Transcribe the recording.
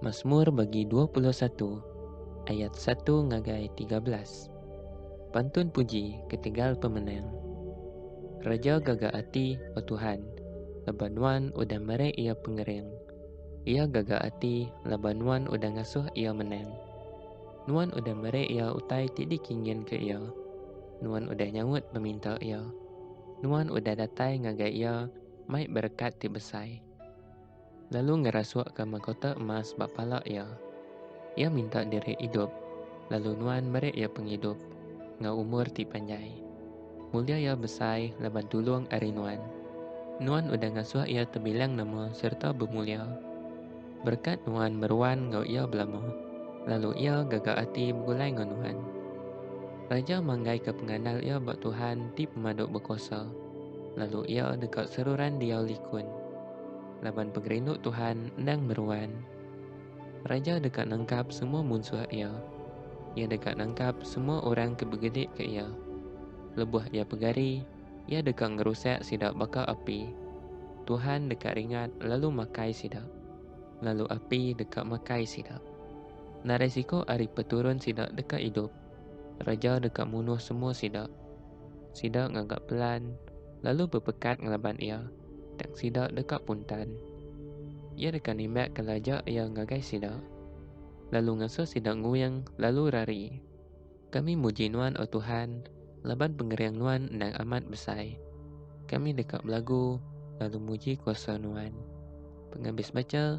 Masmur bagi dua puluh satu ayat satu ngagai tiga belas. Pantun puji ketegal pemenang. Raja gaga ati, O Tuhan, laban Nuan udah meri iya pengering. Iya gaga ati laban Nuan udah ngasuh iya menang. Nuan udah meri iya utai ti dikinginka iya. Nuan udah nyaut peminta iya. Nuan udah datai ngagai iya mai berekat ti besai. Lalu ngerasukka makota emas ba pala iya. Iya minta diri idup, lalu Nuan meri iya pengidup enggau umur ti panjai. Mulia iya besai laban tulung ari Nuan. Nuan udah ngasuh iya tebilang nama sereta bemulia. Berekat Nuan meruan enggau iya belama, lalu iya gaga ati begulai enggau Nuan. Raja manggaika pengandal iya ba Tuhan ti Pemadu Bekuasa. Lalu iya deka seruran diau likun, laban pengerindu Tuhan endang meruan. Raja deka nangkap semua munsuh iya. Iya deka nangkap semua orang ke begedik ke iya. Lebuh iya pegari, iya deka ngerusak sida baka api. Tuhan deka ringat lalu makai sida, lalu api deka makai sida. Narai siku ari peturun sida deka idup. Raja deka munuh semua sida. Sida ngaga pelan, lalu bepekat ngelaban iya, tang sida deka puntan. Iya deka nimbakka laja iya ngagai sida, lalu ngasuh sida nguing lalu rari. Kami muji Nuan, O Tuhan, laban pengering Nuan endang amat besai. Kami deka belagu lalu muji kuasa Nuan. Pengabis bacha.